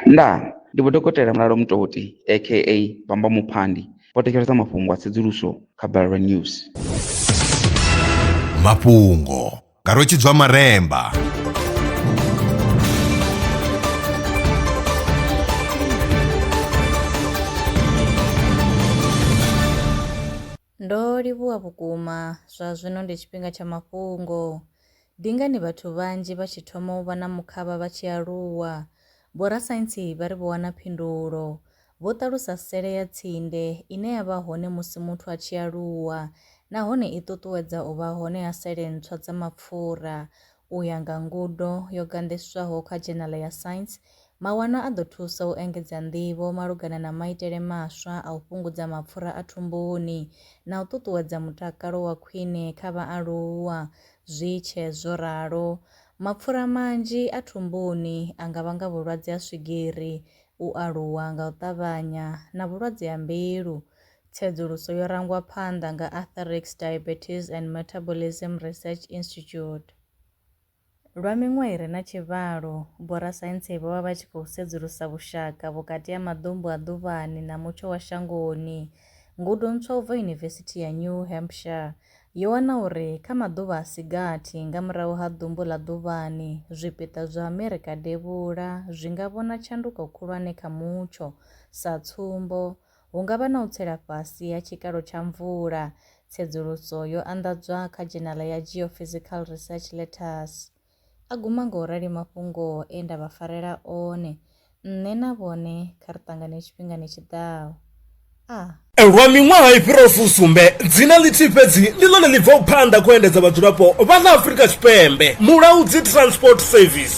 Ndaa! Ndi Vho Dokotela Mulalo Mutoti aka Bamba Muphandi vho thetshelesa mafhungo a tsedzuluso kha Balelwa News. Mafhungo nga Rwe Tshidzwa Maremba. Ndo livhuwa vhukuma! Zwa zwino ndi tshifhinga tsha mafhungo. Ndi ngani vhathu vhanzhi vha tshi thoma u vha na mukhavha vha tshi aluwa? Vhorasaintsi vha ri vho wana phindulo. Vho ṱalusa sele ya tsinde ine ya vha hone musi muthu a tshi aluwa nahone i ṱuṱuwedza u vha hone ha sele ntswa dza mapfura U ya nga ngudo yo ganḓiswaho kha dzhenala ya Science, mawanwa a ḓo thusa u engedza nḓivho malugana na maitele maswa a u fhungudza mapfura a thumbuni na u ṱuṱuwedza mutakalo wa khwine kha vhaaluwa. Zwi tshe zwo ralo, mapfura manzhi a thumbuni a nga vhanga vhulwadze ha swigiri, u aluwa nga u ṱavhanya na vhulwadze ha mbilu. Tsedzuluso yo rangwa phanḓa nga Arthurix Diabetes and Metabolism Research Institute. Lwa miṅwaha i re na tshivhalo, vhorasaintsi vho vha vha tshi khou sedzulusa vhushaka vhukati ha maḓumbu a ḓuvhani na mutsho wa shangoni. Ngudo ntswa u bva Yunivesithi ya New Hampshire yo wana uri kha maḓuvha a si gathi nga murahu ha ḓumbu ḽa ḓuvhani, zwipiḓa zwa Amerika Devhula zwi nga vhona tshanduko khulwane kha mutsho. Sa tsumbo, Hu nga vha na u tsela fhasi ha tshikalo tsha mvula. Tsedzuluso yo anḓadzwa kha dzhenala ya Geophysical Research Letters. A guma nga u rali mafhungo e nda vha farela one. Nṋe na vhone kha ri ṱangane tshifhingani tshi ḓaho. A. Lwa miṅwaha i fhiraho fusumbe, dzina ḽithihi fhedzi ndi ḽone ḽi bvaho phanḓa khou endedza vhadzulapo vha ḽa Afrika Tshipembe, Mulaudzi Transport Service.